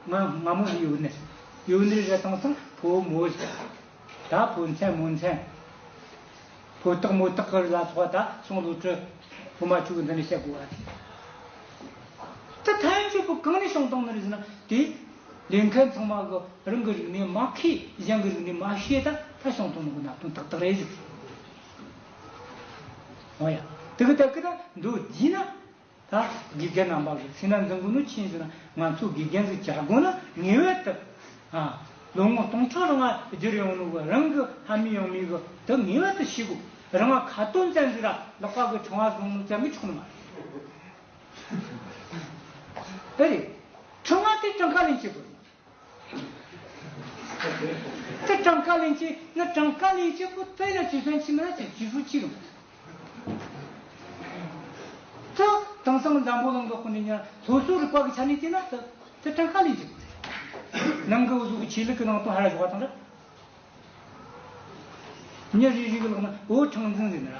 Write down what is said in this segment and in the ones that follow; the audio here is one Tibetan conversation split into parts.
ང་སྔ་མོ་ཡུལ་ནས་ཡུལ་ནས་རེད་དང་སང་ཕོ་མོ་ཟེར། ད་ཕོ་མཚན་མོ་མཚན། ཕོ་སྟག་མོ་སྟག་གི་ལ་སོགས་པ་ད་སང་ལོ་དྲུག་ཕོ་མ་དྲུག་འདི་ནས་བཤད་དགོས་པ་རེད། ད་ཐ་ཡང་ཆོས་པོ་གང་ནས་བྱུང་དང་ནི་ཟེར་ན་དེ་ལས་མཁན་ཚང་མ་གི་རང་གི་རིག་གནས་མ་ཁས་གཞན་གི་རིག་གནས་མ་ཤེས་ད་ད་བྱུང་དང་ནི་གི་ན་དོན་དག་དག་རེད་ཟེར། འོ་ཡ། དེ་གི་ད་གི་ད་འདོད་བགྱིས་ན། ད་དགེ་རྒན་རྣམ་པ་གི་སེམས་ན་འཛིན་དགོས་ནུ་ཕྱིན་ཟེར་ན་ང་ཚོ་དགེ་རྒན་ཚོས་བྱ་དགོས་ན་ངེས་བས་བཏབ། ལོ་ངོ་སྟོང་ཕྲག་རེ་ང་བསྒྱུར་ཡོང་ནུ་བ་རང་གི་ལྷ་མི་ཡང་མི་གི་དེ་ངེས་བས་དུ་ཤེས་དགོས་རེ་ང་ཁ་དོན་བཙན་འཛུལ་ར་ལག་པ་གི་ཕྲེང་བ་བཟུང་ནུ་བཙལ་གི་ཆོག་ནུ་མ་རེད། ཨེ་རེད། ཕྲེང་བ་དེ་ཀྲང་ཁ་ལེན་བྱེད་དགོས་རེ་མ་རེད། ཀྲེ་ཀྲང་ཀ་ལིན་ཅེ་ནི་ཀྲང་ཀ་ལིན་ཅེ་པུ་ཏེ་ནི་ཅི་ཧྥན་ཆི་མི་རིགས་ཀྱི་སྤྱི་ཧྲུའུ་ཅི་རུ་ཏུ་དེང་སང་འཛམ་བུ་གླིང་གི་དཔོན་རིགས་ཉེར་སོ་སོའི་རིག་པ་གི་ཆ་ནས་བལྟས་ན་ཏི་ཏེ་ཀྲང་ཀ་ལིན་ཅེ་པུ་ཏེ་ནང་གི་འུ་ཚོ་གི་ཆོས་ལུགས་ཀྱི་ནང་དོན་ཧ་ལ་ཞོག་པ་དང་འདྲ། ཉིན་རེ་རེའི་ལོགས་ན་འུ་ཁྲང་འཛིན་འཛིན་ནི་ར།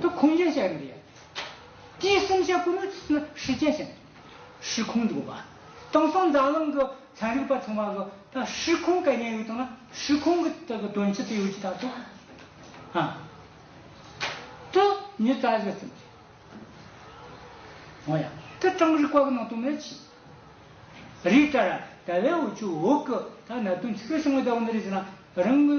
ཏུ་ཁུངས་ཅན་བཤད་ཡོད་པ་ཡིན། དེའི་གསུམ་བཤད་སྐུ་ནུས་ཚིག་ནི་ཧྲི་ཅན་བཤད། ཧྲི་ཁུངས་འཇུག་པ། དེང་སང་འཛམ་གླིང་གི་ཚན་རིག་པ་ཚང་མ་གི་ད་ཧྲི་ཁུངས་སྐལ་ཉན་ཡོད་དང་ན་ཧྲི་ཁུངས་གི་དེ་གི་དོན་ཅི་ཏི་ཡོད་ཅི་ད་དུ་ཨ། དུ་ཉི་ཙཱ་བཞི་གསུམ་བཤད། ཨོ་ཡ། དེ་གྲངས་རིག་པ་གི་ནང་དུ་མེད་ཅི། རིག་གྲ་ར་ད་བའི་འོ་ཆུ་འོག་གི་ད་གནད་དོན་ཆི་ཁྲོ་ཤིང་གི་ད་འོ་འདི་རིག་ཟེར་ན་རང་གི།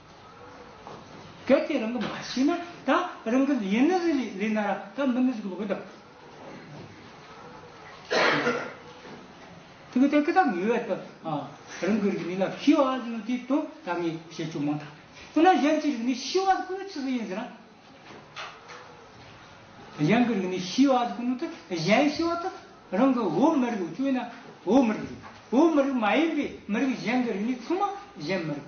གལ་ཏེ་རང་གི་མ་ཤེས་ན་ད་རང་གི་ཡིན་ནི་རི་ལས་ལས་ན་ར་ད་མི་ནི་གཟུགས་ལ་གོས་དང། ཐིག་གི་ཐད་ཀི་དང་ངེས་བས་ད་རང་གི་རིག་ནི་ལ་ཤི་བ་ཟིན་ནོ་དེའི་དོན་ད་ངས་བཤད་ཆོག་མང་དང། འོ་ན་གཞན་གྱི་རིག་ནི་ཤི་བ་ཟིན་ཁོ་ནི་ཅི་ཟིན་ཡིན་ཟེར་ན། གཞན་གི་རིག་ནི་ཤི་བ་ཟིན་ཁོ་ནི་ཏི་གཞན་ཤི་བ་ཏི་རང་གི་འོ་མི་རིག་འོ་ཅོ་ཡིན་ན་འོ་མི་རིག་རེད་འོ་མི་རིག་མ་ཡིན་པའི་མི་རིག་གཞན་གི་རིག་ནི་ཚང་མ་གཞན་མི་རིག།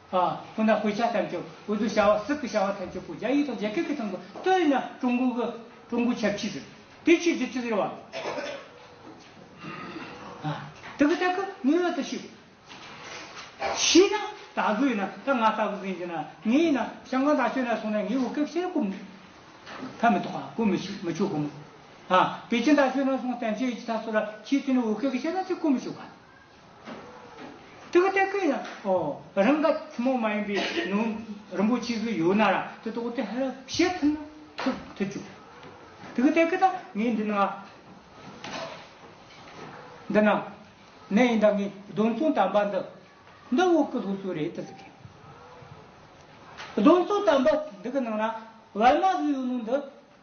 ཨང། ཁོ་ན་ཧུའེ་ཆ་ཐམས་ཅད་འོས་བསྡུ་བྱ་བ་སྲིད་དུ་བྱ་བ་ཐམས་ཅད་པོ་རྒྱ་ཡིག་དང་རྒྱ་སྐད་ཀྱི་ཐང་གི་ཏོ་ཡིན་ན་ཀྲུང་གོ་གི་ཀྲུང་གོའི་ཆབ་ཆིས་ཟེར། དེའི་ཕྱིར་རྒྱུ་མཚན་ཟེར་བ། དེ་གི་ཐད་ཀི་ངའི་འོད་དུ་ཞུ། ཤི་ན་ད་གི་ཡིན་ན་ད་ང་ལྟ་བུ་གི་ཡིན་ཟེར་ན་ངའི་ཡིན་ན་ཤང་ཀང་དང་ཆོས་ན་སོང་ན་ངའི་བོད་སྐད་བཤད་གོ་མི་ཕ་མི་ཐོག་ཨ་གོ་མི་ཤི་མི་ཆོག་གོ་མི། ཨང། པེ་ཅིན་དང་ཆོས་ན་སོང་བསྟན་བཅོས་ཡིག་ཆ་ཐག་སོགས་ལ་ཁྱེད་ཚོས་ནི་བོད་སྐད་གི་བཤད་ན་ཅི་གོ་མི་ཆོག་ག། ཏི་ཀུ་ཏེ་ཀུ་ཡིན་ན་ཨོ། རང་ག་ཐུན་མོང་མ་ཡིན་པའི་ནང་རིན་པོ་ཆེ་ཟུར་ཡོད་ན་ར་དེ་ཏོག་ཏེ་ཧ་ར་བཤད་ཐུབ་ན་ཐུབ་ཐུབ་ཅོ། ཏི་ཀུ་ཏེ་ཀུ་ད་ངས་འདི་ན། འདི་ན། ནས་ཡིན་ད་ངས་གདོན་མཚོན་དམ་པ་འདི། འདི་འོག་གི་ལྷོ་སུ་རེད་ད་ཟེར་གི། གདོན་མཚོན་དམ་པ་འདི་གི་ནང་ན་བལ་མ་ཟུར་ཡོད་ནོ་འདི།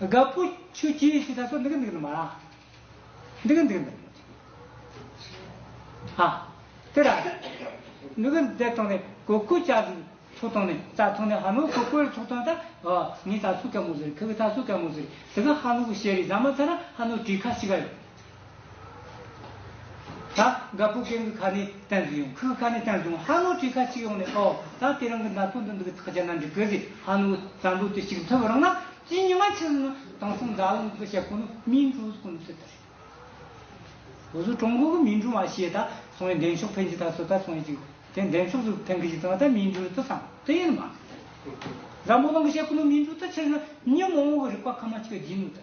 དགའ་བོ་ཁྱོད་ཀྱིས་ཞེས་ད་གཟོད་འདི་གི་འདི་གི་མ་རང། འདི་གི་འདི་གི་འདི། ཧ། དེ་ར། འདི་གི་འདི་བཏང་ནས་གོས་སྐུ་ལྕགས་ཀྱི་ཚུགས་བཏང་ནས་རྩ་ཐུག་ནས་ཧ་ནོར་གོས་སྐུའི་ཚུགས་བཏང་ད་ཨོ་ངས་ད་ཚུགས་ཀ་མོ་ཟེར་ཁྱོད་ཀྱིས་ད་ཚུགས་ཀ་མོ་ཟེར་དེ་ག་ཧ་ནོར་གྱི་ཞལ་རིས་བཟང་མ་ཚར་ན་ཧ་ནོར་བྲིས་ཁ་ཕྱི་ག་ཡོད། ད་དགའ་པོ་རྒན་གི་ཁ་ནས་བསྟན་སོང་ཡང་ཁོའི་ཁ་ནས་བསྟན་སོང་ཧ་ནོ་ཁྲི་ཁ་ཅིག་ཡོང་ནས་ཨོ་ད་དེ་རང་གི་ན་ཚོད་འདི་འདུག་གི་ཐག་ཆ་ན་འགྲིག་གི་རེད་ཧ་ནོ་བསམ་བློ་དེ་ཅིག་འཐོལ་བ་རང་ན་ཅི་ཉི་མ་ཕྱིར་ནི་དེང་སང་འཛམ་གླིང་གི་ཤེ་ཁོ་ནོ་མིན་གྲོ་གོ་ནོ་སི་ད་རེད། ལོ་སུ་ཀྲོང་གོ་གི་མིན་གྲོ་མ་ཤེས་ད་སོང་ཡི་འདེམས་ཤོག་འཕེན་གྱི་ད་སུ་ད་སོང་ཡི་ཅིག་དེ་འདེམས་ཤོག་སུ་འཕེན་གི་ཅིག་ད་ད་མིན་གྲོ་ཏི་སང་ཏི་ཡིན་ནི་མ་རེད། འཛམ་བུ་གླིང་གི་ཤེ་ཁོ་ནོ་མིན་གྲོ་ཏི་ཕྱིར་ནི་ཉི་མ་འོང་གི་རིག་པ་ཁ་མ་ཅིག་ག་སྦྱིན་ནོ་ཏི།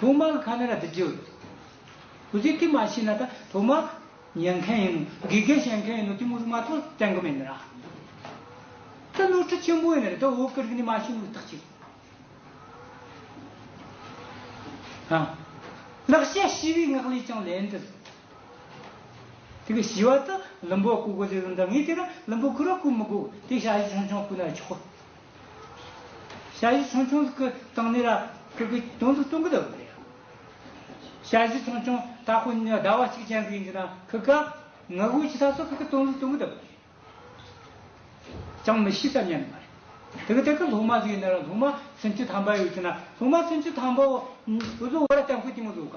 ཐོག་མར་ཁ་མེ་ར་དེ་འཇོག། ཁུ་ཚུར་ཐིག་མ་ཤི་ན་ད་ཐོག་མར། ཉན་མཁན་ཡིན་ནོ་དགེ་རྒན་བྱེད་མཁན་ཡིན་ནོ་ཐི་མུ་རུ་མ་ཐོག་དྲན་གི་མེད་ནི་ར། ད་ནོར་འཁྲུལ་ཆེན་པོ་ཡིན་ནི་རེད་ད་འོ་ཀི་རིག་ནི་མ་ཤི་འུ་ཐག་ཅི་རེད། ཧ། ལག་ཤ་ཤི་བའི་ངག་ལས་ཀྱང་ལན་དུ། དེ་གི་ཤི་བ་ད་ལུམ་པོ་ཀུ་གོ་ཟེ་རུ་འདང་ངེས་དེ་ར་ལུམ་པོ་ཁུ་ར་ཀུ་མི་དགོ་དེ་ཤ་ཤི་ཆུང་ཆུང་ཀུ་ན་ཆོག། བྱ་གཞི་ཆུང་ཆུང་གི་སྟེང་ནས་ལ་ཁུག་གི་དོན་དུ་གཏོང་གི་འདུག་པས། བྱ་གཞི་ཆུང་ཆུང་དག་ཁོ་ནི་ཟླ་བ་གཅིག་ཅན་གྱི་ལ་ཁུག་ག་ངུ་དགོད་ཀྱི་ས་སོགས་ཤིག་གི་དོན་དུ་གཏོང་གི་འདུག་པས་ཅང་མི་ཤེས་སམ་སྙམ་པ་རེད། དེ་གི་སྟེང་གི་ལྷུག་མ་ཟིག་ནི་ལྷུག་མ་ཚུན་ཆུད་དམ་པ་ཡོད་ཅེ་ན་ལྷུག་མ་ཚུན་ཆུད་དམ་པའོ། བཟོ་བོ་ལ་ལྟ་མཁན་དེ་མི་བཟོ་ག།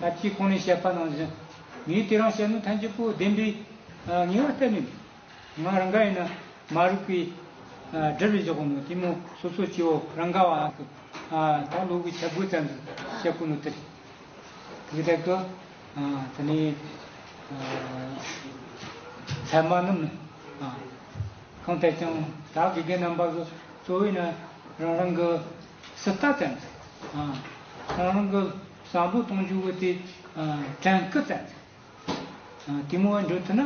ཐབས་ཀྱི་ཁོང་ནས་བཤད་པ་ནང་བཞིན། ངས་དེ་རང་བཤད་ན་ཐམས་ཅད་པོ་བདེན་པའི་ངེས་བ་གཏན་ནས་མིན། ང་རང་ག་ཡིན་ན་མ་རིག་པའི་དྲི་རུ་འཇོག་ནོ་དེ་མོ་སོ་སོ་སྐྱེ་བོ་རང་ག་བ་ཨ་ཀི་ད་ལོ་གི་ཆ་བགོས་ཙམ་གྱིས་བཤད་དགོས་ནོ་དེར་གི་དེ་གི་དེ་ནས་ཚད་མ་རྣམས་ནི་གང་ལྟར་ཀྱང་དག་དགེ་རྒན་རྣམ་པ་གི་གཙོ་བོས་ན་རང་རང་གི་སྲི་ལྟ་ཙམ་གྱིས། ཁོང་རང་གི་བསམ་བློ་གཏོང་རྒྱུ་བོད་དེ་བྲན་སྐུ་བཙན་ཚེ་དེ་མོ་བ་འགྲོ་ཐུ་ན་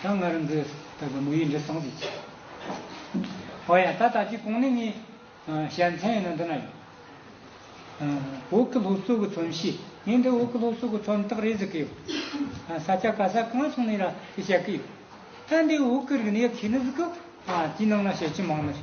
ད་ང་རང་གི་ད་གི་མོ་ཡིས་འདྲི་སོང་ཟིག་ཅིག་ཨོ་ཡ་ད་ད་ཅིག་གོང་ནས་ངའི་ཞལ་མཚན་ཡིན་ན་འདི་ན་ཡོད་བོད་ཀི་ལྷོ་གཙོ་གི་ཚོམ་ཤེས་ངས་འདི་བོད་ཀི་ལྷོ་གཙོ་གི་ཚོམ་སྟག་རེད་ཟེར་གི་ཡོད་ས་སྐྱ་ག་ས་གང་སོང་ནས་ར་དེ་བཤད་གི་ཡོད་ད་འདི་བོད་ཀི་རིག་གནས་ཡག་ཤེས་ནི་ཟིག་གི་ཅི་ནང་ན་བཤད་ཀྱི་མང་ན་རེད།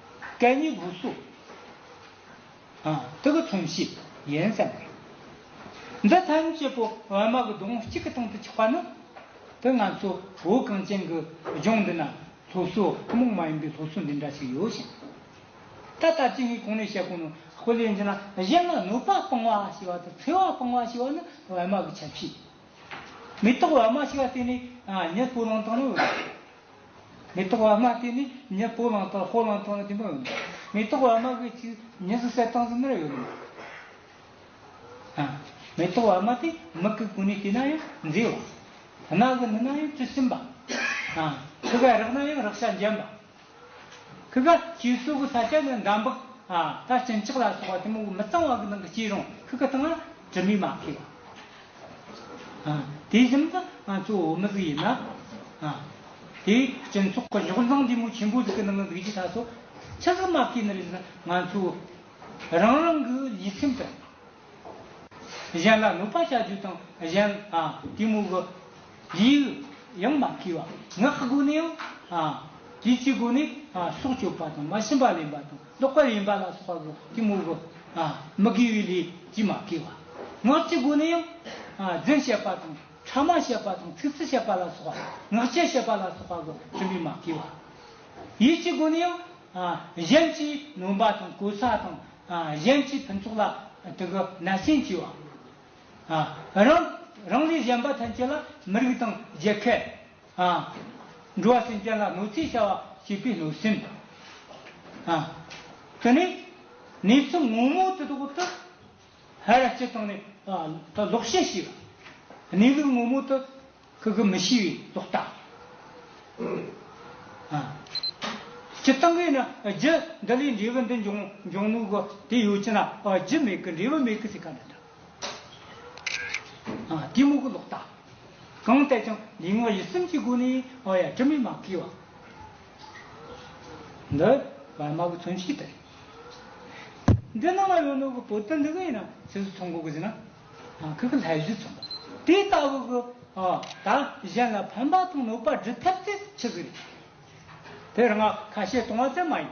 སྐད་གཉིས་དགུ་སུ། ཐུགས་ཀྱི་མཚུངས་གཞི་ཡིན་བསམ་པས། འདི་ཐམས་ཅད་པོ་ཨེ་མ་གི་སྡོང་བུ་གཅིག་གི་སྟེང་དུ་ཆགས་པ་ནི། དེ་ང་ཚོ་བོད་གངས་ཅན་གྱི་ལྗོངས་འདི་ན་སློབ་གསོ་ཐུན་མོང་མ་ཡིན་པའི་སློབ་གསོ་འདི་འདྲ་ཞིག་ཡོད་ཞིང། ད་ལྟ་སྤྱི་ངས་གོང་ནས་བཤད་གོང་ནས་ཧྥུ་ལེ་འཛིན་ན་གཞན་ལ་གནོད་པ་སྤང་བ་ཞེས་པ་དང་འཚེ་བ་སྤང་བ་ཞེས་པ་ནི་ཨེ་མ་གི་ཁྱབ་བྱེད་ཡིན། མི་རྟག་ཨེ་མ་ཞེས་པ་དེ་ནི་ཉིད་སྤོ་ལོང་དང་ནི། མེ་ཏོག་བ་མ་དེ་ནི་ཉི་སྤོ་ལང་དང་སྤོ་ལང་སྟངས་དེ་མ་ཡོད་ནོ། མེ་ཏོག་བ་མ་གི་ཆུ་ཉི་སུ་སའི་སྟངས་སུ་མེར་ཡོད་ནོ། མེ་ཏོག་བ་མ་དེ་མིག་གི་གུ་ནི་དེ་ན་ཡང་མཛེས་བ། རྣ་གི་ནི་ན་ཡང་ཆུ་སིམ་པ། ཁི་གའི་རག་ན་ཡང་རག་ཤ་འཇམ་པ། ཁི་ག་ཆུའི་སྲུ་གི་ས་ཆ་ནི་འདམ་བག་དང་སྤྱིན་ལྕགས་ལ་སོགས་བ་དེ་མོ་གི་མི་གཙང་བ་གི་ནང་གི་སྐྱེས་རུང་ཁི་གི་སྟངས་ལ་དྲི་མས་མ་ཁེགས་པ། དེ་བཞིན་དུ་ང་ཚོ་བོད་མི་ཟིག་ཡིན་ན། དེ་སྤྱི་ཚོགས་ཀྱི་གཞོགས་འདང་ལྡེ་མོ་ཆེན་པོ་ཟིག་གི་ནང་ལ་འདུག་ཅེས་ད་གཟོད་ཕྱི་གསལ་མ་ཀི་ནི་རེད་ན་ང་ཚོ་རང་རང་གི་ལུས་སེམས་དང། གཞན་ལ་གནོད་པ་བྱ་རྒྱུ་དང་གཞན་ལྟེ་མོ་གི་ལུས་ཡང་མ་ཀི་བ་ངག་སྒོ་ནས་ཡང་དེ་ཚོའི་སྒོ་ནས་སྲོག་གཅོད་པ་དང་མ་ཤི་འབའ་ལེན་པ་དང། ལྡོག་པ་ཡིན་པ་ལ་སོགས་པ་དགུ་གི་དངོས་པོ། མི་དགེ་བའི་ལས་ཀྱིས་མ་དགེ་བ། ངག་གི་སྒོ་ནས་ཡང། རྫུན་བཤད་པ་དང་ཕྲ་མ་བཤད་པ་དང་ཚིག་རྩི་བཤད་པ་ལ་སོགས་པ། ངག་འཁྱལ་བཤད་པ་ལ་སོགས་པ་དགུ་བྱིན་པས་མ་དགེ་བ། ཡིད་ཀྱི་སྒོ་ནས་ཡང། གཞན་གྱིས་ནོན་པ་དང་གོལ་ས་དང། གཞན་གྱི་ཕུན་ཚོགས་ལ་དུ་གུ་ན་སེམས་སྐྱེ་བ། རང། རང་ལས་གཞན་པ་ཐམས་ཅད་ལ་མི་རིགས་དང་རྒྱལ་ཁད། ཧཱ། འགྲོ་བ་སེམས་ཅན་ལ་གནོད་འཚེ་བྱ་བ་བྱེད་པའི་གནོད་སེམས། ཧཱ། དེ་ནས་ནས་ཚུར་སྔོན་མོ་དེ་དག་ཏུ། ཧེ་ར་སྤྱི་དང་ནས་ལོག་ཤེས་ཤེས་པ། གནས་ལུགས་སྔོན་མོ་དུ། ཁུ་གུ་མི་ཤེས་པའི་ལོག་ལྟ། ཧཱ། སྤྱི་དང་གིས་ནི་རྒྱུ། འདི་ལས་འབྲས་བུ་འདི་འབྱུང་འབྱུང་ནོ་གོ། དེ་ཡོད་ཅེ་ན་རྒྱུ་མེད་ཀི་འབྲས་བུ་མེད་ཀི་སེ་ག་འདི་འདྲ། གཏི་མུག་ལོག་ལྟ་གང་བལྟས་ཀྱང་ལུས་ངག་ཡིད་གསུམ་གྱི་སྒོ་ནས་ཨོ་ཡ་དྲི་མེད་མ་བསྐྱེད་བ། འདི་བར་མ་གི་མཚོན་བྱེད་དེ་རེད། འདི་རྣམས་ལ་ཡོད་ནོ་གི་བོད་དོན་འདི་གི་ཡིན་ན་ཚིགས་སུ་མཚོན་གོ་གི་ཟིན་ན་ཁི་གི་ལྷད་གཞི་མཚོན། དེ་ལྟ་བུ་གི་དག་གཞན་ལ་ཕན་པ་དང་གནོད་པ་སྒྲུབ་ཐབས་དེ་ཆི་གི་རེད། དེར་ང་ཁ་བཤད་གཏོང་བ་ཙམ་མ་ཡིན།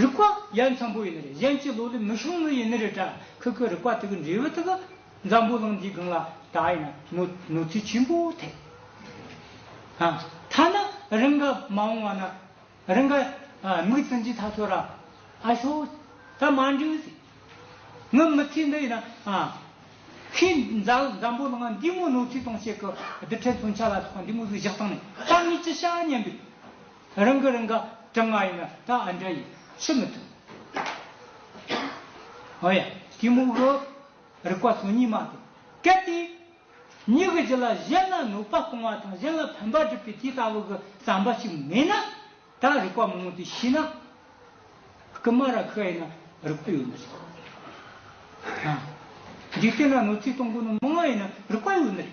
རིག་པ་ཡར་འཚམས་པོ་ཡིན་ནི་རེད་གཞན་གྱི་ལོ་ལས་མི་ཤོང་ནི་ཡིན་ནི་རེད་དྲ་ཁུག་གི་རིག་པ་དེ་གི་འབྲས་བུ་དེ་གི་འཛམ་བུ་གླིང་འདིའི་སྒང་ལ་ད་ཡིན་ན་གནོད་འཚེ་ཆེན་པོ་ཐེབས། ཨ་ཐ་ན་རི་འགའ་མ་འོང་བ་ན་རི་འགའ་མིག་ཙིན་གྱི་ཐག་ཆོད་ར་ཨ་ཤོག་ད་མ་འགྲིག་ཟེར། ངའི་མི་ཚེ་འདི་ཡིན་ན་ཁོས་འཛམ་བུ་གླིང་འདིའི་མོ་གནོད་འཚེ་གཏོང་བྱེད་གི་འདི་འཕྲལ་མཚོན་ཆ་ལ་སོགས་པ་འདི་མོ་ཟིག་བཞག་སྟངས་ནས་ད་ངས་ཅི་བྱ་སྙམ་པའི། རང་གི་རང་ག་གྲང་ང་ཡིན་ན་ད་ཨ་འདྲ་ཡིན་ཤི་མི་ཐུབ། ཨོ་ཡ་གི་མུག་རོ། རིག་པ་ཚོ་གཉིས་མ་དེ་སྐད་དེ། མྱིག་གི་ལ་གཞན་ལ་གནོད་པ་གཏོང་བ་དང་གཞན་ལ་ཕན་པ་སྒྲུབ་པའི་དེ་ལྟ་བུ་གི་བསམ་པ་ཞིག་མེད་ན། ད་རིག་པ་མང་བོ་དེ་ཤི་ན། ཀི་མ་ར་ཁི་ཡིན་ན་རིག་པ་ཡོད་མི་རེད། འཇིག་རྟེན་ན་གནོད་འཚེ་གཏོང་མཁན་མང་ཡིན་ན་རིག་པ་ཡོད་མི་རེད།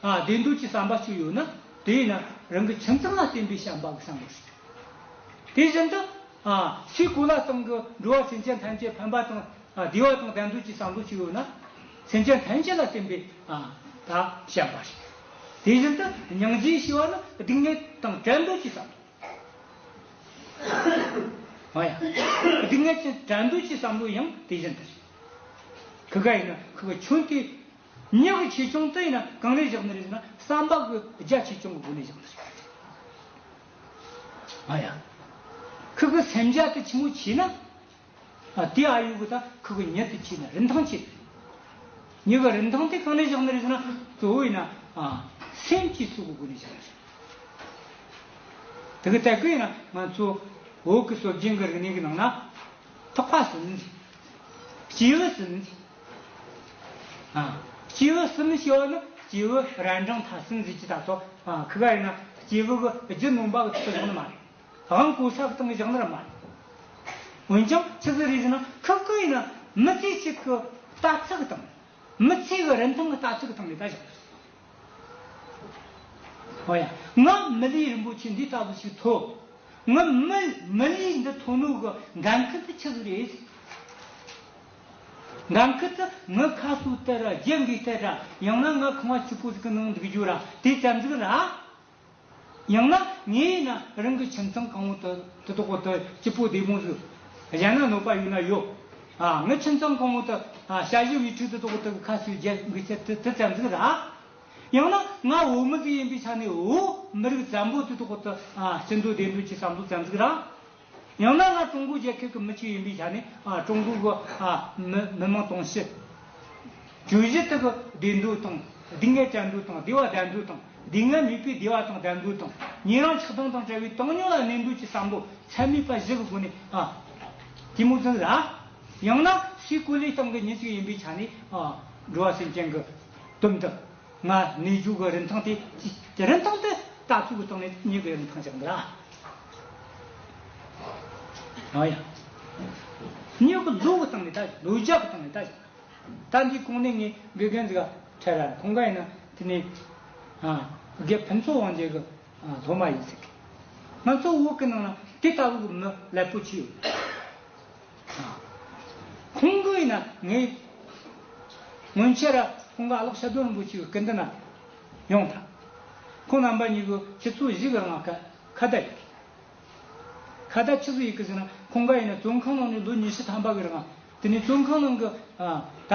བདེ་འདོད་ཀྱི་བསམ་པ་ཅིག་ཡོད་ན་དེས་ན་རང་གི་ཁྱིམ་ཚང་ལ་བརྟེན་པའི་བྱམས་པ་གི་བསམ་བློ་ཞིག་ཡོད་དགོས། དེ་བཞིན་དུ། སའི་གོ་ལ་སྟེང་གི་འགྲོ་བ་སེམས་ཅན་ཐམས་ཅད་ཕན་པ་དང་བདེ་བ་དང་བདེ་འདོད་ཀྱི་བསམ་བློ་ཅིག་ཡོད་ན། སེམས་ཅན་ཐམས་ཅད་ལ་བརྟེན་པའི་བྱམས་པ་ཞིག་ཡོད་དགོས། དེ་བཞིན་དུ་སྙིང་རྗེ་ཞེས་པ་ནི་སྡིག་ཉེས་དང་བྲལ་འདོད་ཀྱི་བསམ་བློ། མ་ཡ། སྡིག་ཉེས་ཅན་བྲལ་འདོད་ཀྱི་བསམ་བློ་ཡང་དེ་བཞིན་དུ་ཞིག་ཡོད་དགོས། གི་ག་ཡིན་ན་གི་ག་ཁྱོད་དེ། ཉེ་གི་ཆེ་ཆུང་དེ་ཡིན་ན་གང་རེད་བཞག་ནི་རེད་ཟེར་ན་ས་འབག་གི་རྒྱ་ཆེ་ཆུང་གི་སྒོ་ནས་བཞག་ནི་རེད། ཨ་ཡ། ཁི་གི་སེམས་རྒྱ་དེ་ཆི་མོ་ཆི་ན། དེ་ཨ་ཡུ་གི་ད་ཁི་གི་ཉེ་དུ་ཆི་ན་རིན་ཐང་ཆི་རེད། ཉེ་གི་རིན་ཐང་དེ་གང་རེད་བཞག་ནི་རེད་ཟེར་ན་གཙོ་བོ་ཡིན་ན་སེམས་ཀྱི་སྲོག་གི་སྒོ་ནས་བཞག་ནི་རེད། དེ་གི་སྟེགས་གི་ཡིན་ན་ང་ཚོའི་འོག་གི་སྲོག་རྒྱན་གི་རིག་གནས་ཀི་ནང་ན་ཐག་པ་ཟེར་ནི་རེད། སྤྱི་ཡི་ཟེར་ནི་རེད། སྐྱེས་བུ་གསུམ་ཞེས་པ་ནི་སྐྱེས་བུ་རལ་འབྲང་ཐ་སིང་གཟིགས་ཀྱི་ད་ཚོ་ཁི་ག་ཡིན་ན་སྐྱེས་བུ་གི་རྒྱུ་ནོམ་པ་གི་ཐོག་བཞག་ནི་མ་རེད་དབང་བསྐུར་ས་གི་སྟེང་བཞག་ནི་རེད་མ་རེད། འོན་ཀྱང་ཕྱི་ཟིག་རིས་ན་ཁི་གི་ཡིན་ན་མི་ཚེ་གཅིག་གི་ལྟ་ཚུལ་གི་སྟེང་མི་ཚེ་གི་རིན་ཐང་གི་ལྟ་ཚུལ་གི་སྟེང་ལས་ཀ་བཞག་ཡོད། ཨོ་ཡ་ང་མི་ལུས་རིན་པོ་ཆེ་འདི་ལྟ་བུ་ཞིག་ཐོབ་ང་མི་ལུས་འདི་མཐོང་ནུས་གི་འགན་ཁུར་དུ་ཆི་ཟིག་རེད། ནང་ཁུལ་དུ་མི་ཁ་སུ་དེར་རྒྱལ་འགུས་ཐལ་དྲག་ཡང་ན་ང་ཁང་བ་ཆུ་ཕོ་ཟིག་གི་ནང་འདུག་རྒྱུ་ར་དེ་རྩ་འཛུགས་ར་ཡང་ན་ངའི་ཡིན་ན་རང་གི་ཁྱིམ་ཚང་གང་བོ་དུ་དུ་དོག་པོ་དུ་སྐྱིད་པོ་བདེ་མོ་ཟིག་གཞན་ན་གནོད་པ་ཡོད་ན་ཡོད་ཨ་ངའི་ཁྱིམ་ཚང་གང་བོ་དུ་ཤ་ཞེ་བའི་ཁྲུས་དུ་དོག་པོ་དུ་གི་ཁ་སུའི་རྒྱལ་འགུས་ཐལ་དུ་དུ་རྩ་འཛུགས་ར་ཡང་ན་ང་བོད་མི་ཟིག་ཡིན་པའི་ཆ་ནས་བོད་མི་རིགས་བཙན་པོ་དུ་དོག་པོ་དུ་སྐྱིད་འདོད་བདེ་འདོད་ཀྱི་བསམ་བློ་རྩ་འཛུགས་ར། ཡང་ན་ང་ཀྲུང་གོའི་རྒྱལ་ཁབ་ཀྱི་མི་གཅིག་ཡིན་པའི་ཆ་ནས་ཀྲུང་གོའི་བུ་མི་མི་མང་དང་སྲིད་ཇུས་གཞི་ཐོག་བདེ་འགྲོ་དང་སྡུག་བསྔལ་བྲལ་འགྲོ་དང་བདེ་བ་བདེ་འགྲོ་དང་སྡུག་བསྔལ་མེད་པའི་བདེ་བ་དང་བདེ་འགྲོ་དང་ཉན་རང་ཆགས་སྡང་དང་བྲལ་བའི་བཏང་སྙོམས་ལ་གནས་འདོད་ཀྱི་བསམ་བློ་ཚད་མེད་པ་བཞི་གི་སྒོ་ནས་གཏི་མུག་འཛིན་ལ། ཡང་ན་སའི་གོ་ལའི་སྟེང་གི་ཉིན་གཅིག་ཡིན་པའི་ཆ་ནས་འགྲོ་བ་སེམས་ཅན་གྱི་དོན་དུ། ལྔ། ནུས་རྒྱུ་གི་རིན་ཐང་སྟེ། རིན་ཐང་སྟེ། ལྟ་ཚུལ་གྱི་སྟེང་ནས་ནུས་པའི་རིན་ཐང་ཅིག་འདུག་ལ། ནུས་པ་ལུག་གི་སྟེང་ནས་ལྟ། ལུག་ལྗགས་ཀྱི་སྟེང་ནས་ལྟ། ལྟ་འདིའི་གོང་ནས་ངས་དགེ་རྒན་ཚོས་ཁྲལ་ར་གོང་ག་ཡིན་ན་དེ་ནས། དགེ་ཕན་ཚོགས་དབང་ཅན་གྱི་སློབ་མ་ཡིན་ཟེར་གི། ང་ཚོ་དབུགས་ཀྱི་ནང་ན་དེ་ལྟ་བུའི་མི་ལེགས་པོ་གཅིག་ཡོད། ཁོང་གིས་ན་ངའི་སྔོན་ཆད་ར་ཁོང་ག་ལག་ཤ་དོན་རིན་པོ་ཆེའི་སྐད་འདི་ན་ཡོང་ཐ། ཁོང་རྣམ་པ་གཉིས་གི་ཁྱི་ཚོ་བཞི་གི་རང་ཁ་ཁ་བརྡ་ཡིག་གི། ཁ་བརྡ་ཁྱི་ཚོ་ཡིག་གི་ཟེར་ན་ཁོང་ག་ཡིན་ན་བཙོན་ཁང་ནང་ནས་ལོ་ཉི་ཤུ་ཐམ་པ་གི་རང། དེ་ནས་བཙོན་ཁང་ནང་གི་ད།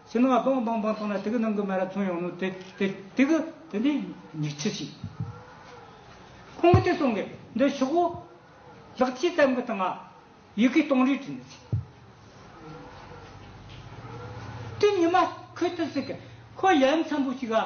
སེམས་ལ་སྟོང་སྟོང་སྤང་སྟོང་ལ་ཐིག་གི་ནང་གི་མེ་ར་མཚོན་ཡོང་ནོ། དེ་དེ་དེ་གི་དེ་འདྲའི་ཉི་ཁྱི་ཞིག། ཁོང་གིས་དེ་གསུང་གི་འདི་ཤོག་གོ། ལག་ཕྱིས་ཙམ་གི་དང་ང་ཡི་གིས་སྟོང་རིས་བྲིས་འདི་ཚིག། དེ་ཉི་མ་ཁོས་དེ་ཟིག་གི་ཁོ་ཡ་མཚམས་པོ་ཞིག་ག།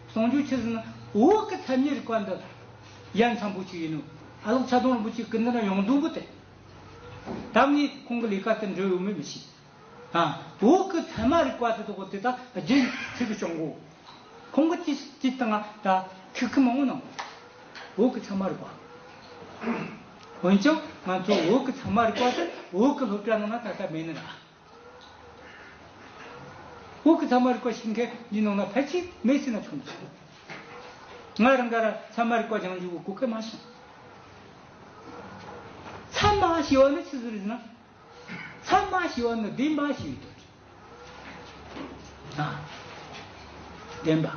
ཟུང་འཇུག་ཆུ་ཟིན་འོག་གི་མཚན་ཉིད་རིག་པ་འདི། ཡ་མཚན་པོ་ཆུ་ཡིན་ནོ། ཨ་ལོག་ཆ་སྡོང་རིན་པོ་ཆེའི་སྐུ་འདི་ན་ཡོངས་ཟླུམ་པོ་སྟེ། ད་ངས་ཁོང་གི་ལས་ཀ་དེ་འགྲུབ་ཡོང་མིན་མི་ཤེས། འོག་གི་མཚན་མ་རིག་པ་དེ་དག་དེ་དག་རྗེས་ནས་ཁྱོད་ཀྱིས་སྤྱོང་གོ། ཁོང་གི་ཅི་ཅི་ལྟ་ང་ད་ཁྱི་ཁི་མང་པོ་གནང་གོ། འོག་གི་མཚན་མ་རིག་པ། འོན་ཀྱང་ང་ཚོས་འོག་གི་མཚན་མ་རིག་པ་དེ་འོག་གི་སློབ་གྲྭ་ནང་ན་ད་ལྟ་མེད་ནི་ར། དབུགས་ཀྱི་ཚ་མ་རིག་པ་ཞིག་མཁན་གྱི་ནང་ན་ཕལ་ཆེར་མེད་སྲིད་ན་ཆོག་མི་ཆོག་གོ། ང་རང་ག་རང་ཚ་མ་རིག་པ་སྦྱང་འཇུག་གི་གོ་སྐལ་མ་བྱུང། ཚ་མ་ཞེས་བ་ནི་ཅི་ཟེར་ཟེར་ན། ཚ་མ་ཞེས་བ་ནི་བདེན་པ་ཞེས་པའི་དོན་རེད། ཨ། བདེན་པ།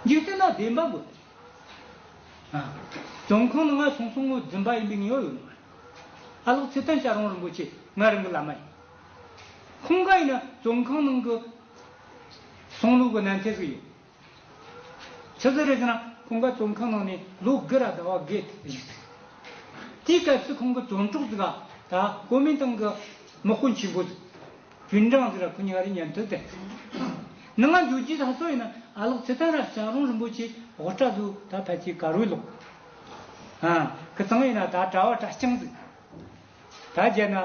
འཇིག་རྟེན་ན་བདེན་པ་དགོས་པ་རེད། ཨ། བྱུང་ཁུངས་ནི་ང་བྱུང་སོང་ངོ་རྫུན་པ་ཡིན་པའི་ངེས་བ་ཡོད་ནི་མ་རེད། ཨ་ལོག་ཚེ་བརྟན་ཤ་རོང་རིན་པོ་ཆེ་སྔ་རིང་གི་བླ་མ་ཡིན། ཁོང་ག་ཡིན་ན་བཙོན་ཁང་ནང་གི་གསང་ལུགས་ཀྱི་གནས་ཐད་ཟིག་ཡོད། ཆུ་ཚོད་རེ་ཟིན་ན་ཁོང་ག་བཙོན་ཁང་ནང་ནས་ལོ་དགུ་ར་ཟླ་བ་བརྒལ་ཐུབ་ཀྱི་ཡོད་ཟིག། དེའི་སྐབས་སུ་ཁོང་གི་བཙོན་གྲོགས་ཟིག་ད་ཀོ་མིན་ཏང་གི་དམག་དཔོན་ཆེན་པོ་ཟིག་ཅུན་ཀྲང་ཟིག་ར་ཁོ་གཉིས་ཀ་རེ་ཉན་ཐོས་བསྟན་ཟིག། ནི་ང་འགྱོ་རྒྱུའི་ས་སོགས་ཡིན་ན་ཨ་ལོག་ཚེ་བརྟན་ར་ཤ་རོང་རིན་པོ་ཆེ་དབུ་སྐྲ་བཟོས་ད་ཕལ་ཆེར་ག་རོའི་ལོག། ཁྱེད་ཚང་ཡིན་ན་ད་གྲྭ་བ་གྲྭ་རྐྱང་འདུག། ད་རྒྱལ་ན་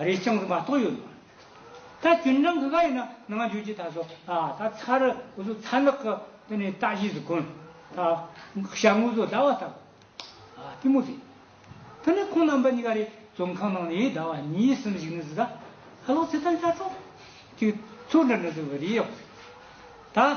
རས་རྐྱང་འདུག་མ་གཏོགས་ཡོད་མ་རེད། ད་ཅུན་ཀྲང་གི་ག་ཡིན་ན་ནང་འཇུག་ཅིག་ད་སོ། ད་ཚ་རུ་འུ་ཚོ་ཚ་ནག་གི་དེ་ནས་ལྟ་གཞི་ཟིག་གོ། ད་ཤ་ངུ་ཚོ་ཟླ་བ་ལྟ་གོ། གཏི་མུག་རེད། དེ་ནས་ཁོང་རྣམ་པ་གཉིས་ཀ་རེ་བཙོན་ཁང་ནང་ནས་ཟླ་བ་གཉིས་གསུམ་ཞིག་ནི་ཟིག་ད་ལོ་ཚེ་ཐར་བྱ་ཆོག་ཅིག་ཚུར་འདྲ་ནི་ཟིག་བ་རེད་ཡོད་པ་རེད། ད།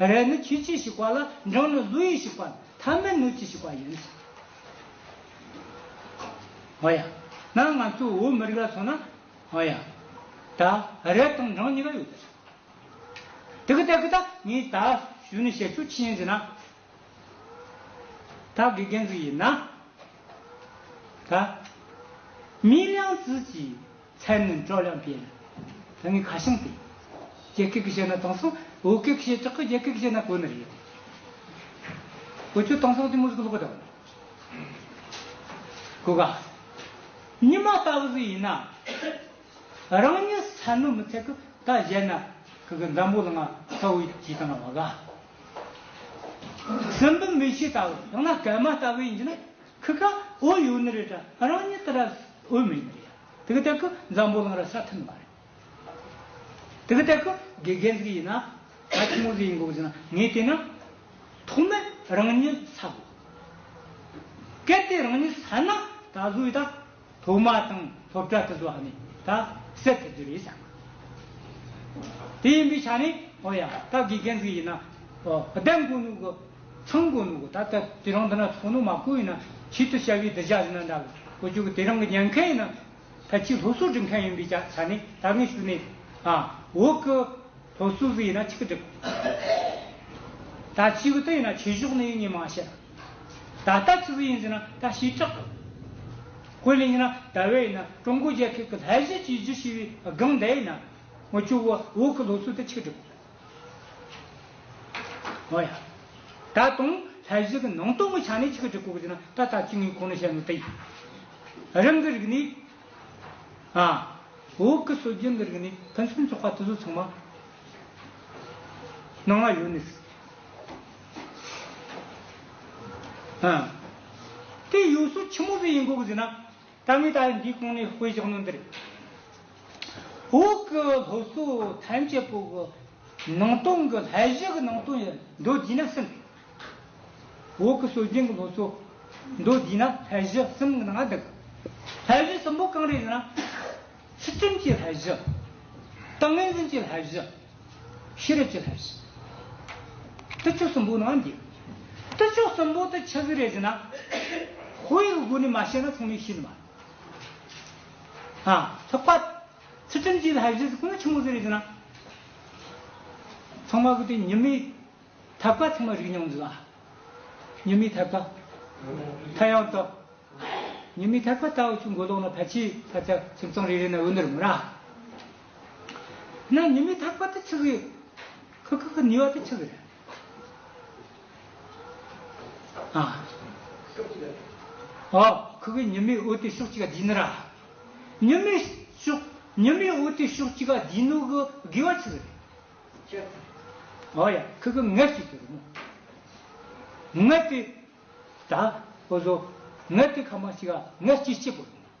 རས་ནི་ཁྱི་སྤྱིས་ཤིག་པ་ལ་འབྲང་ནི་ཀླུ་ཡིས་ཤིག་པ་ཐ་མལ་གནོད་ཀྱིས་ཤིག་པ་ཡིན། ཨོ་ཡ། ན་ང་ཚོའི་བོད་མི་རིགས་ལ་མཚོན་ན། ཨོ་ཡ། ད་རས་དང་འབྲང་གཉིས་ཀ་ཡོད་དེ། དེ་གི་ཏེ་གི་ད་ངས་ད་ཞུས་ནས་བཤད་ཆོག་ཅི་ཡིན་ཟེར་ན། ད་དགེ་རྒན་ཟིག་ཡིན་ན། ད། མིའི་གླེང་ཚུལ་གྱིས། ཚད་ནི་འགྲོ་ལམ་བརྒྱད། དེ་ནི་ཁ་ཞེང་སྟེ། རྒྱལ་སྐད་ཀྱིས་བཤད་ན་དེང་སང་བོད་སྐད་ཀྱིས་བཤད་ཆོག་གི་རྒྱལ་སྐད་ཀྱིས་བཤད་ན་གོ་ནི་རེད། བོད་ཆོས་དེང་སང་དེ་མུར་གྱི་ལོག་པ་འདྲ་བོ་རེད། གོ་དཀའ། ཉི་མ་ལྟ་བུ་ཟིག་ཡིན་ན། རང་ཉིད་ས་ནོར་མི་ཚད་གི་ད་བཞད་ན་གི་གི་འཛམ་བུ་ལ་ང་ལྟ་བུ་གྱིས་དང་ང་བ་དགའ། སྲིན་བུ་མི་ཤེས་ལྟ་བུ་ཡང་ན་གད་མ་ལྟ་བུ་ཡིན་གྱི་ན། ཁི་ཁ་ཨོ་ཡོ་ནི་རེད་ད་ང་རང་ཉིད་ད་ར་ཨོས་མེད་ནི་རེད་ད་གི་ད་གི་འཛམ་བུ་གླང་ར་ས་ཐིན་མ་རེད་ད་གི་ད་གི་དགེ་རྒན་ཟིག་ཡིན་ན་ང་ཆུང་ངུ་ཟིག་ཡིན་དགོས་ཟིན་ན་ངས་བལྟས་ན་ཐོག་མེད་རང་ཉིད་ཟ་དགོས་གལ་ཏེ་རང་ཉིད་ཟ་ན་ད་གཟོད་ད། ཐོག་མ་དང་ཐོབ་གྲ་ཐུ་ཟོ་ཧ་ནི་ད་སད་ཐུ་རྒྱུ་རེད་སང། དེ་ཡིན་པའི་ཆ་ནས་ཨོ་ཡ་ད་དགེ་རྒན་ཟིག་ཡིན་ན་ཨོ་བདམས་དགོས་ནུ་གོ་ཚང་དགོས་ནུ་གོ་ད་ད་དེ་རང་འདི་ན་ཚོགས་ནོ་མ་བསྐོས་ཡིན་ན་ཆེད་དུ་བྱ་བའི་འདི་བྱ་ཟིན་ན་འདྲ་གོ་གོ་ཅོ་གོ་དེ་རང་གི་ཉན་མཁན་ཡིན་ན་ད་ཁྱི་ལྷོ་སུ་འགྲིག་མཁན་ཡིན་པའི་ཆ་ཆ་ནས་ད་ངས་ཞུ་ནི་ཨ་འོ་ཁི་ལྷོ་སུ་ཟིག་ཡིན་ན་ཆི་ཁི་འགྲིག་གོ། ད་ཆི་གི་ཏི་ཡིན་ན་ཆི་ཞོག་ནི་ཡིན་ངས་མ་བཤད། ད་ལྟ་ཚིག་ཟིན་ཡིན་ཟེར་ན་ད་ཞེ་དྲག་གོ། ཧོས་ལེ་ཡིན་ན་ད་བས་ཡིན་ན་ཀྲུང་གོ་རྒྱལ་ཁབ་ཀྱི་ལྷ་གཞས་ཀྱི་གཞི་ཞེས་པའི་སྒང་དེ་ཡིན་ན། ངོ་ཅོ་བོ་བོ་གི་ལོ་ཚོད་དེ་ཆིག་སྒྲིལ་གོ། འོ་ཡ། ད་དུང་ལྷ་གཞས་ཀྱི་ནང་དོན་གྱི་ཆ་ནས་ཆིག་སྒྲིལ་གོ་ཟེར་ན་ད་ལྟ་ཚིག་ངའི་གོང་ནས་བཤད་འདུག་དེ་ཡིན། རང་གི་རིག་གནས། ཨ། བོ་གི་སྲོལ་རྒྱུན་གྱི་རིག་གནས་ཕུན་སུམ་ཚོགས་པ་དེ་ཚོ་ཚང་མ། ནང་ལ་ཡོད་ནི་སྲིད། དེའི་ཡུལ་སྲོལ་ཆེན་མོ་ཟིག་ཡིན་དགོས་གི་ཟིག་ན། ད་མི་ད་ཡིན་འདིའི་གོང་ནས་ཧོས་བཞག་ནོ་འདིར། འོག་གི་ལྷོ་སོ་ཐམས་ཅད་པོ་གི་ནང་སྟོང་གི་ལྷ་བཞི་གི་ནང་སྟོང་ཡིན་མདོ་བསྡུས་ན་གསུམ། འོག་གི་སྲོལ་རྒྱུན་གྱི་ལྷོ་སོ་མདོ་བསྡུས་ན་ལྷ་བཞི་གསུམ་གི་ནང་འདུག། ལྷ་བཞི་གསུམ་པོ་གང་རེད་ཟེར་ན། ཚུལ་ཁྲིམས་ཀྱི་ལྷ་བཞི། ཏིང་ངེ་འཛིན་གྱི་ལྷ་བཞི། ཤེས་རབ་ཀྱི་ལྷ་བཞི། དུར་ཁྲོད་གསུམ་པོ་ནི་བརྒྱད། དུར་ཁྲོད་གསུམ་པོ་དུ་ཆ་བཞི་རེ་བཞི་ན། ཧཱུྃ་ཡིག་དགུ་ནི་མ་ཤེས་ན་མཚུངས་མེད་བཞི་ནི་མ། ལྷག་པ། ཚུལ་ཁྲིམས་ཀྱི་ལྷ་བཞི་གསུམ་ནི་ཆུང་ངུ་བཞི་རེ་བཞི་ན། ཚང་མ་དགུ་སྟེ་ཉི་མའི་ཐབས་ཀ་ཚང་མ་རིག་སྙོམས་འཛིན། ཉི་མའི་ཐབས་ཀ། མཐའ་ཡང་དག། ཉི་མའི་ཐབས་ཀ་ལྟ་བུ་ཆུ་འགོ་ལོག་ན་ཕལ་ཆེར་ཕ་ཚ་ཁྱིམ་ཚང་རེ་རེ་ན་འོད་འདྲ་མི་ར། ན་ནི་མི་ཐག་པ་དེ་ཆི་ཁི་ཁི་ཁི་ཁི་ནི་བ་དེ་ཆི་ཁི་ར་ཨ་ཁི་ཁི་ཉི་མའི་འོད་དེ་ཤོག་ཅི་ག་དི་ནི་ར་ཉི་མའི་ཤོག་ཉི་མའི་འོད་དེ་ཤོག་ཅི་ག་དི་ནུ་གི་གི་བ་ཆི་ཁི་ར་ཨ་ཡ་ཁི་ཁི་ངད་ཅི་དེ་རུ་མོ་ངད་དེ་ད་ཨོ་ཟོ་ངད་དེ་ཁ་མ་ཅི་ག་ངད་ཅི་ཅི་པོ་རུ་མོ།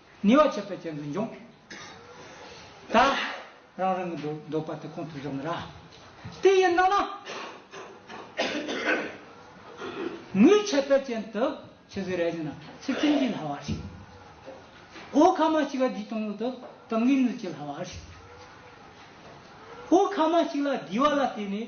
ནུས་བ་ཆེ་བས་ཅན་དུ་འབྱུང། ད། རང་རང་གི་འདོད་པ་དེ་གོང་དུ་འཇོག་ན་ར། དེ་ཡི་ནང་ན། ནུས་ཆེ་བས་ཅན་དུ་ཆེ་ཟེར་ར་ཅན་ན་ཚེ་བཙན་གྱིས་ལྷ་བ་ཞིག། ཨོ་ཁ་མ་ཅིག་ལ་དེའི་སྟོང་ལུགས་དུ་དང་གིས་ནུས་ཀྱིས་ལྷ་བ་ཞིག། ཨོ་ཁ་མ་ཅིག་ལ་དེའི་བ་ལ་བརྟེན་ནས།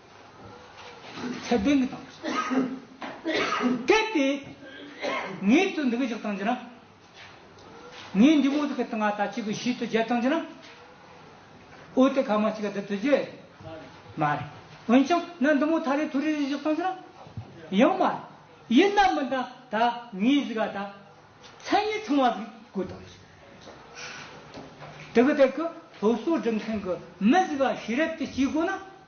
ཚད་ལྡན་གྱི་དང་པོ་བྱེད། གལ་ཏེ། ངའི་ཚུལ་འདི་སྐད་ཅིག་བཏང་རྒྱུ་ན། ངའི་འདུན་མོ་འདི་སྐད་དུ་ང་ད་ཅིག་གི་ཞིག་ཏུ་བརྒྱད་བཏང་རྒྱུ་ན། འོད་དེ་གང་མ་ཅིག་ག་འདི་དུ་བརྒྱད། མ་རེད། འོན་ཀྱང་ན་འདུན་མོ་ཐ་རེ་ཐུ་རེ་རེ་ཞིག་བཏང་རྒྱུ་ན། ཡང་མ་རེད། ཡིན་ནམ་མིན་ད་ད་ངའི་གཟིགས་ག་ད། མཚན་ཉིད་ཚང་བ་གཟིགས་དགོས་དང་ཞིག། དེ་གི་ཐད་ཀྱི་སློབ་གསོ་སྒྲུབ་མཁན་གྱི་མི་གཟིགས་ག་ཤེས་རབ་ཀྱི་སྐྱེས་སྒོ་ན།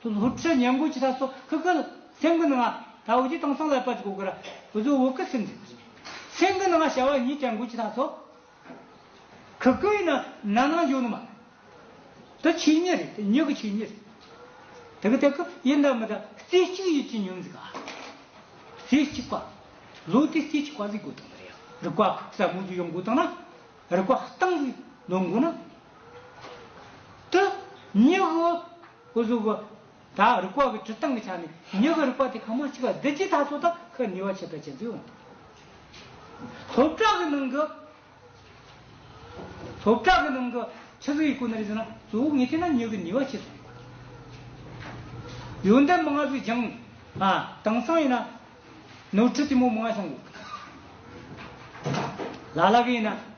ཐུ་ལྷོ་ཁྲི་སྙན་མགོ་ཆེ་ས་སོགས་ཁག་གི་སེང་གི་ནང་ད་བོ་ཆེ་དང་སང་ལ་པ་ཆེ་གོ་གི་ར་བུ་བཟོ་བོ་གི་སེང་ཟེར་སེང་གི་ནང་བྱ་བ་གཉིས་ཀྱང་མགོ་ཆེ་ས་སོགས་ཁག་གི་ཡིན་ན་ན་ནང་འཇོག་ནི་མ་རེད་དེ་ཆོས་ཉིད་རེད་དེ་ཉིད་ཀྱི་ཆོས་ཉིད་རེད་དེ་གི་དེ་གི་ཡིན་ད་མི་ད་རྩེ་གཅིག་ཡིད་ཀྱི་ཉོན་ཟིག་རྩེ་གཅིག་པ་ལོ་དེ་རྩེ་གཅིག་པ་ཟིག་དགོས་དང་མི་རེད་རིག་པ་ཁུག་ས་མོ་ཟིག་ཡོང་དགོས་དང་ན་རིག་པ་སྟངས་ཟིག་ནོན་དགོས་ན་དེ་ཉིད་གི་སྐུ་གཟུགས་པ། དག་རིག་པ་གི་དྲི་སྟངས་ཀྱི་ཆ་ནས་མྱུ་གུ་རིག་པ་དེ་གང་མ་གཅིག་པ་བདུད་རྩིའི་ཐགས་སོ་དག་གི་ནུས་པ་ཆད་པའི་བྱེད་རྩོལ་འོང་དགོས། ལྷོ་བྲག་གི་ནང་གི། ལྷོ་བྲག་གི་ནང་གི་ཆུ་གཟུགས་ཡི་སྐུ་ན་རེ་ཟུང་ན་གཙོ་བོ་ངེས་དེ་ན་མྱུ་གུའི་ནུས་པ་ཆེ་སོང་ཡོད། ཡོན་ཏན་མ་ལྔ་གཟུགས་བྱང། དེང་སང་ཡིན་ན། ནོར་འཁྲུལ་དུས་མོ་མ་ལྔ་བྱང་དགོས། ལ་ལ་གི་ཡིན་ན།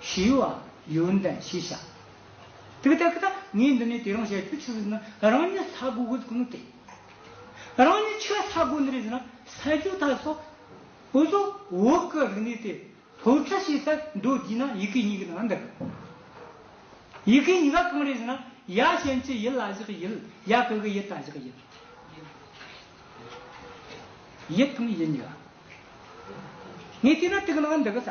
ཞི་བ། ཡོན་ཏན་ཞེས་བྱ། དེ་ལྟ་སྟེ། ངས་འདི་ནས་དེ་རང་བྱས་ཁྱོད་ཆོས་ལུགས་ནི་རང་ཉིད་ལྷ་དགུ་དགོས་དགོས་ནི་དེ། རང་ཉིད་ཆོས་ལྷ་དགུ་ནི་རེ་ཟེར་ན་ས་བཅུ་ཐ་སོ། འོ་སོགས་འོག་གི་རིག་གནས་དེ་ལྷོ་ཁྲ་ཤེས་ལྟར་འགྲོ་བགྱིས་ན་ཡི་གེ་གཉིས་ཀྱི་ནང་འདི་ག། ཡི་གེ་གཉིས་ཀ་གང་རེ་ཟེར་ན་ཡ་གཞན་གྱི་ཡིད་ལ་བཞག་ཡིད་ཡ་གི་གི་ཡིད་ལ་བཞག་ཡིད། ཡིད་དང་ཡིད་གཉིས་ཀ། ངས་བལྟས་ན་དེ་གི་ནང་འདི་གི་ས།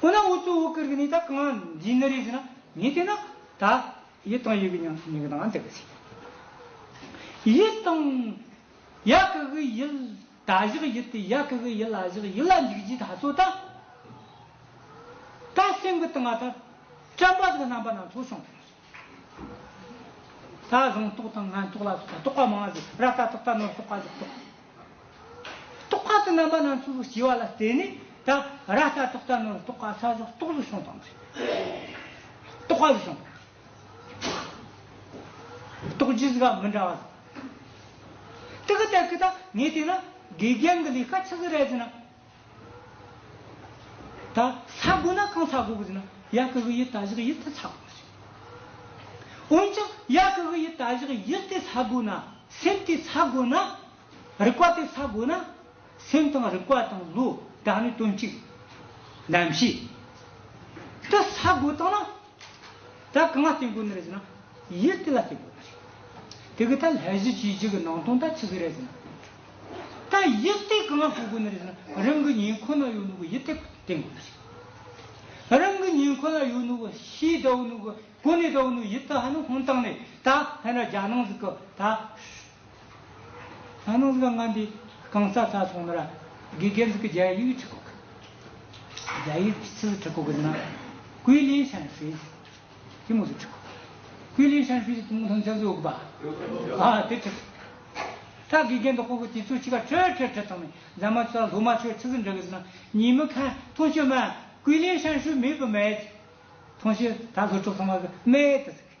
ཁོ་ན་འུ་ཚོ་བོད་ཁུལ་གྱི་ནི་ད་གང་འཛིན་ནི་རེད་ཟེར་ན་ངས་བལྟས་ན་ད་ཡི་ཏང་ཡོད་ཀྱི་ཉམས་སུ་ཉེ་གི་ད་འདི་གི་ཚེ་ཡི་ཏང་ཡ་གི་གི་ཡི་ད་བཞག་ཡི་དེ་ཡ་གི་གི་ཡི་ལ་བཞག་ཡི་ལ་འཇུག་རྗེས་ད་གསོ་ད་ད་སེམས་གི་ཏང་ང་ད་སྐྲན་པ་གི་རྣམ་པ་སྣ་ཚོགས་བྱུང་ཐུབ་ས་རེད་ད་གཟེངས་རྟོག་དང་ངན་རྟོག་ལ་སོགས་ད་རྟོག་པ་མང་ཟེར་ར་ད་རྟོག་ད་ནོར་རྟོག་ག་རྒྱག་རྟོག་རྟོག་པ་དང་རྣམ་པ་སྣ་ཚོགས་སྐྱེ་བ་ལ་བརྟེན་ནས་ད་ར་ལྟ་རྟོག་ལྟ་ནོར་རྟོག་ག་ས་སོགས་རྟོག་བཟོ་བྱུང་བཏང་ཚེ། རྟོག་པ་བཟོ་བཏང་ཚེ། རྟོག་རྒྱུ་ཟིག་མི་འདྲ་བ་དང། ཏི་ཀི་ཏའི་ཀི་དང་ངས་བལྟས་ན་དགེ་རྒན་གྱི་ལས་ཀ་ཆི་ཟིག་རེད་ཟེར་ན། ད་ཚ་དགོས་ན་གང་ཚ་དགོས་གི་ཟིན་ན་ཡ་ཀི་གི་ཡི་ད་བཞག་ཡིད་དེ་ཚ་དགོས་གི་ཟིན། འོན་ཀྱང་ཡ་ཀི་གི་ཡི་ད་བཞག་ཡིད་དེ་ཚ་དགོས་ན་སེམས་དེ་ཚ་དགོས་ན་རིག་པ་དེ་ཚ་དགོས་ན་སེམས་དང་རིག་པ་དང་བློ་དག་ནི་དོན་གཅིག། གདམས་གཤིས་དེ་ཚ་དགོས་དང་ན། ད་གང་ལ་བརྟེན་དགོས་ནི་རེད་ཟེར་ན། ཡིར་ཏི་ལ་བརྟེན་དགོས་པ་རེད། དེ་གི་ད་ལྷས་གཞི་བྱེས་གཅིག་གི་ནང་དོན་ད་ཆི་ཟིག་རེད་ཟེར་ན། ད་ཡིར་ཏི་གང་ལ་གོ་དགོས་ནི་རེད་ཟེར་ན་རང་གི་ཉིན་ཁོ་ན་ཡོད་ནུ་གི་ཡིར་ཏི་བརྟེན་དགོས་པ་རེད། རང་གི་ཉིན་ཁོ་ན་ཡོད་ནུ་གི་ཤི་ད་བུ་ནུ་གི་གོ་ནི་ད་བུ་ནུ་ཡིར་ཏི་ཧ་ནི་ཧོན་ཏང་ནི་ད་ཧན་ར་རྒྱ་ནང་ཟིག་གི་ད། ཨ་ནུ་ལོ་ལྔ་འདི་གང་ས་ས་སོང་ན་ར་གི་སྒེར་ཟིག་གི་རྒྱ་ཡིག་ཁྲི་ཁོ་གི། རྒྱ་ཡིག་གི་ཚིག་ཁྲི་ཁོ་གི་ན་ཀུའི་ལིན་ཧྲན་ཧྲི་ཟིག་གི་མོ་ཟིག་ཁྲི་ཁོ་གི། ཀུའི་ལིན་ཧྲན་ཧྲི་ཟིག་གི་མོ་ཐང་ཅང་ཟུའོ་གི་པ་ཨ་དེ་ཁྲི་ཁོ་གི། ད་གི་རྒན་དང་ཁོ་གི་དེ་ཚོ་ཕྱི་ཁ་ཁྲི་ཁྲི་ཁྲི་ཐང་མི་རྫ་མ་ཚོ་ལ་ལྷུ་མ་ཆོས་ཁྲི་ཟིག་འདྲི་གི་ཟིག་ན་ཉིན་མི་ཁ་ཐང་ཤི་མ་ཀུའི་ལིན་ཧྲན་ཧྲི་མི་བུ་མེད་ཀི་ཐང་ཤི་ད་ལྷུ་ཁྲི་ལྷུ་མ་གི་མེད་ཟིག་གི།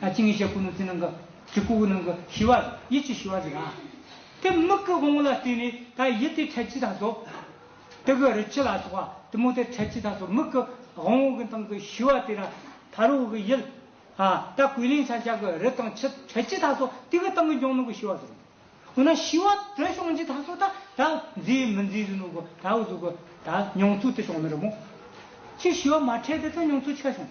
ཨ་ཅེ་ངེད་ཅག་སྐུ་ནུ་རྩེ་ནང་གི་གྲི་གུ་བོ་ནང་གི་ཞི་བ། ཡིད་ཀྱི་ཞི་བ་ཟིག་ཨ། དེ་མིག་གི་དབང་བོ་ལ་བརྟེན་ནས་ད་ཡིད་དེ་འཕྲལ་གྱི་ད་གཟོད། དེ་གི་རི་ཁྱི་ལ་སོགས་པ་དུ་མོ་དེ་འཕྲལ་གྱི་ད་གཟོད་མིག་གི་དབང་བོ་གི་སྟེང་གི་ཞི་བ་དེ་ལ་ད་རུ་གི་ཡིད། ཨ། ད་གོས་ལེན་ཆ་འཇག་གི་རི་དང་ཁྱི་འཕྲལ་གྱི་ད་གཟོད་དེ་གི་སྟེང་གི་འཇོང་ནང་གི་ཞི་བ་ཟིག། འོ་ན་ཞི་བ་དེ་བྱུང་གྱི་ད་གཟོད་ད་ད་མཛེས་མི་མཛེས་ཟིག་ནུ་གི་ད་གཟོད་གི་ད་མྱོང་ཚུལ་དེ་བྱུང་མི་རུང་ངོ། ཁྱི་ཞི་བ་མ་འཕྲལ་དེ་ད་མྱོང་ཚུལ་ཆ་བྱུང།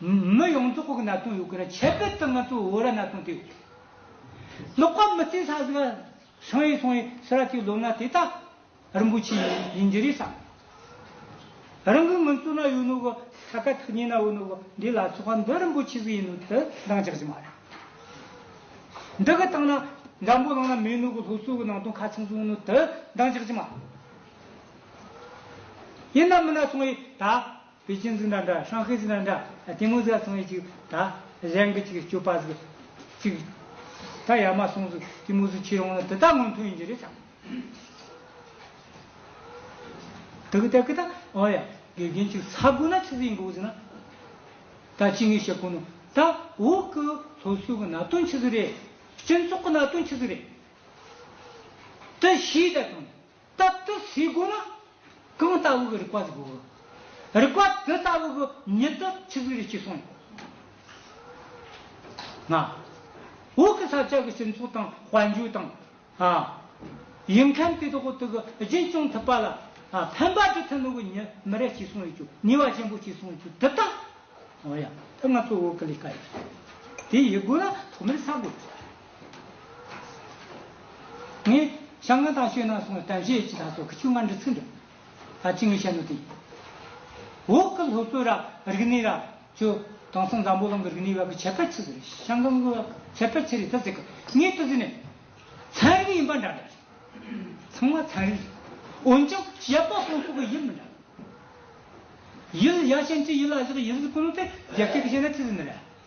མི་ཡོངས་རྫོགས་གི་ན་ཚོང་ཡོད་དགོས་ན་ཁྱད་པད་དུ་ང་ཚོ་བོད་ར་ན་ཚོང་དེ་ཡོད་དགོས། ལོག་པ་མི་རྩིས་ས་ཟིག་ཤིང་ཡིག་ཚོང་ཡིག་སི་ར་ཅིག་ལོབ་ན་དེ་དག་རིན་པོ་ཆེ་ཡིན་གྱི་རེད་བསམ། རང་གི་ངུ་ཚོ་ན་ཡོད་ནོ་གི་ས་ག་ཐུག་ཉེ་ན་འོ་ནོ་གི་འདི་ལ་ཚོ་ཁང་འདི་རིན་པོ་ཆེ་ཟིག་ཡིན་ནོ་དེ་འདང་རྒྱག་གྱི་མ་རེད། འདི་གི་སྟེང་ན་འདམ་བུ་བླངས་ན་མེད་ནོ་གི་ལྷོ་སུ་གི་ནང་དོན་ཁ་ཚང་ཟིག་ཡོད་ནོ་དེ་འདང་རྒྱག་གྱི་མ་རེད། ཡིན་ན་མི་ན་ཚོང་ཡིན་ད། པེ་ཅིན་ཟི་ན་འདྲ་ཧྲང་ཧེ་ཟི་ན་འདྲ་དེ་སྔོན་ཟ་སོང་ཡས་ཅིག་ད་གཞན་གི་ཅིག་སྐྱོ་པ་ཟིག་ཅིག་ད་ཡ་མ་སོང་ཟིག་དེ་མུ་ཟི་ཁྱེར་འོང་ན་དེ་དག་སྔོན་ཐོན་ཡིན་གྱི་རེད་ད་དེ་གི་ད་གི་ད་འོ་ཡ་དགེ་རྒན་ཅིག་ཟ་དགོས་ན་ཆི་ཟི་ཡིན་གི་འོ་ཟི་ན་ད་ཅི་ངས་བཤད་དགོས་ནོ་ད་འོ་གི་སློབ་གསོ་གི་ནག་དོན་ཆི་ཟི་རེད་སྤྱི་ཚོགས་གི་ནག་དོན་ཆི་ཟི་རེད་དེ་ཤེས་ད་དང། རྟག་ཏུ་སའི་སྒོ་ལ་གང་ལྟ་བུའི་རིག་པ་གཟིགས་པའོ། རིག་པ་དེ་ལྟ་བུ་གི་ཉིད་དུ་ཆུ་གཟིགས་རེ་ཞིག་གསུངས། ན། འོག་གི་ས་བཅད་ཀྱི་སྤྱི་མཚུངས་དང་དཔལ་འབྱོར་དང། ཡུལ་མཁན་དེ་དག་དེ་གི་རྗེས་སྐྱོང་ཐུབ་པ་ལ། ཕན་པ་དྲི་ཐུན་ནོ་གི་ཉིད་མི་རེ་ཞིག་གསུངས་ཡོད་ཀྱི་ནུས་བ་ཆེན་པོ་ཞིག་གསུངས་ཀྱི་དེ་ལྟ། འོ་ཡ། དེ་ང་ཚོ་འོག་གི་ལས་ཀ་ཡིན། དེ་ཡི་སྒོ་ལ་ཐོག་མར་ས་སྒོ། ངས་ཤམ་ང་དང་ཤོད་ན་སོང་བའི་དམ་བཞེས་ཅི་དང་སོག་གི་ཆུ་མངར་འདི་ཚིག་འདི་ད་ཅི་ངས་བཤད་ནོ་དེ་ཡིན། འོག་གི་སློབ་གསོ་ར་རིག་ནི་ར་ཅོ་དང་སང་འཛམ་བུ་གླང་གི་རིག་ནི་བ་གི་ཁྱད་པར་ཆི་ཟི་རེད་ཤམ་གང་གི་བ་གི་ཁྱད་པར་ཆི་རེད་ད་ཟེར་གི་ངས་ད་ཟེར་ནས་ཚན་རིག་ཡིན་པ་འདྲ་འདྲ་རེད། ཚང་མ་ཚན་རིག་རེད་འོན་ཀྱང་ཞབས་པ་སོང་སོག་གི་ཡིད་མི་འདྲ། ཡིད་ཡ་ཤན་ཅི་ཡིད་ལ་བཞག་ཡིད་ཟི་ཀུ་ནུ་དེ་རྒྱལ་སྤྱི་གི་བཤད་ན་ཆི་ཟི་ནི་ར།